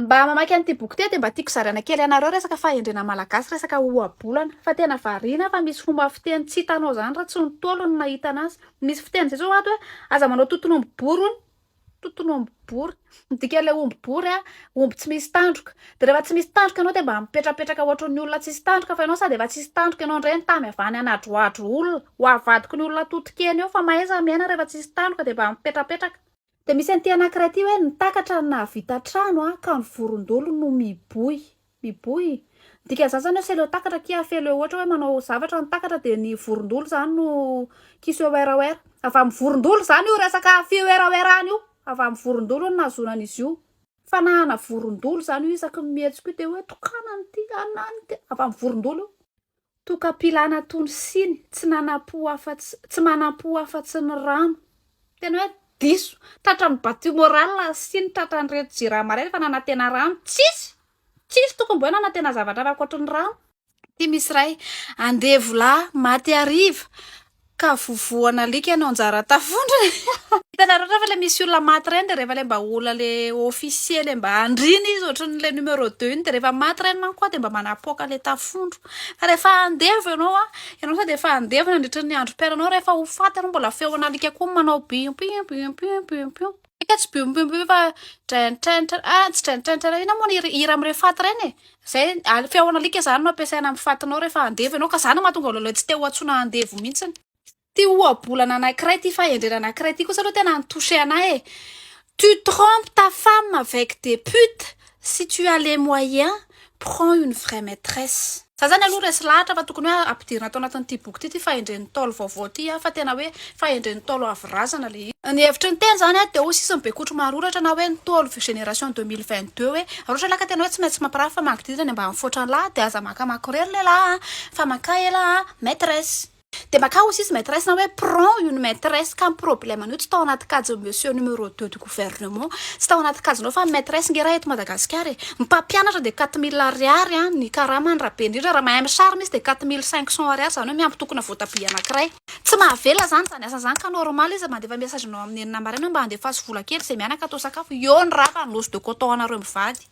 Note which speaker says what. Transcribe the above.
Speaker 1: Mba mamaky an'ity boky ity aho dia mba tiako zaraina kely anareo resaka fahendrena malagasy, resaka ohabolana fa tena variana fa misy fomba fiteny tsy hitanao izany raha tsy ny Ntaolo no nahita an'azy. Misy fiteny izay zao ato hoe aza manao toton'omby bory hono, toton'omby bory, ny dikan'ilay omby bory a, omby tsy misy tandroka. Dia rehefa tsy misy tandroka ianao dia mba mipetrapetraka ohatry ny olona tsisy tandroka fa ianao sady efa tsisy tandroka ianao indray ny tany avy any hanadrohadro olona ho avadiko ny olona totokena eo fa mahaiza miaina rehefa tsisy tandroka dia mba mipetrapetraka. Dia misy an'ity anankiray ity hoe nitakatra ny nahavita trano a ka ny vorondolo no miboy miboy ny dikan'izany zany hoe se leo takatra kia fe leo ohatra hoe manao zavatra ny takatra dia ny vorondolo zany no ki se werawera avy amin'ny vorondolo zany io resaka fiwerawerana io avy amin'ny vorondolo no nahazoana an'izy io fanahana vorondolo zany io isaky ny mihetsika io dia hoe tokana an'ity anona any ity avy amin'ny vorondolo io Tokam-pilana tony siny tsy nanam-po afatsy tsy manam-po afatsy ny rano. Tena hoe diso. Tratran'ny battu moral siny tratran'ireto jirama ireto fa nanantena rano tsisy! Tsisy tokony mboe nanantena zavatra hafa ankoatry ny rano. Aty misy iray, andevo lahy maty hariva, Ka vovohana alika ianao anjara tafondra e! Hitanareo refa le misy olona maty reny de refa le mba olona le officier le mba andriana izy otriny le numero deux iny de refa maty reny manko a de mba manapoaka le tafondro fa refa andevo ianao a ianao sady efa andevo nandritry ny androm-piainanao refa ho faty ianao mbola feon'alika koa manao bim bim bim bim bim bim. Eka tsy be omby omby fa draintranitra ah tsy draintranitra iray inona moa ny hira amin'ireny fat ireny e? Izay al- feon' alika izany no ampiasaina amin'ny fatinao rehefa handevo ianao ka izany no mahatonga anao tsy te ho antsoina handevo mihitsy. Ity ohabolana anankiray ity fahendrena anankiray ity kosa aloha tena ni-toucher anahy e! Tu trompes ta femme avec des putes Si tu as les moyens, prends une vraie maitresse. Za zany aloha resy lahatra fa tokony hoe ampidirina ato anatin'ity boky ity ity fahendren'ny Ntaolo vaovao ity a, fa tena hoe fahendren'ny Ntaolo avy razana le izy. Ny hevitry ny teny zany a de ho sisin'i Bekotro Maroratra na hoe Ntaolo vue génération 2022 hoe Maroratra lahy ka tena hoe tsy maintsy mampirafy fa mangidirana ny ambanifoatran'lah de aza maka makorely lelah a fa maka elah a maitresse. Dia makà aussi tsy maitresse na hoe prends une maitresse ka ny problème an'io tsy tao anaty kajin'i monsieur numéro deux du gouvernement, tsy tao anaty kajinao fa ny maitresse nge raha eto Madagasikara e! Ny mpampianatra dia quatre mille ariary an, ny karamany raha be indrindra raha mahay misary misy dia quatre mille cinq cents ariary izany hoe miampitokona voatabia anankiray. Tsy mahavela izany izany asany izany ka normal izy mandefa message anao amin'ny enina maraina hoe mba andefaso vola kely izay mianaka atao sakafo, eo ny rava ny loso de coton anareo mivady.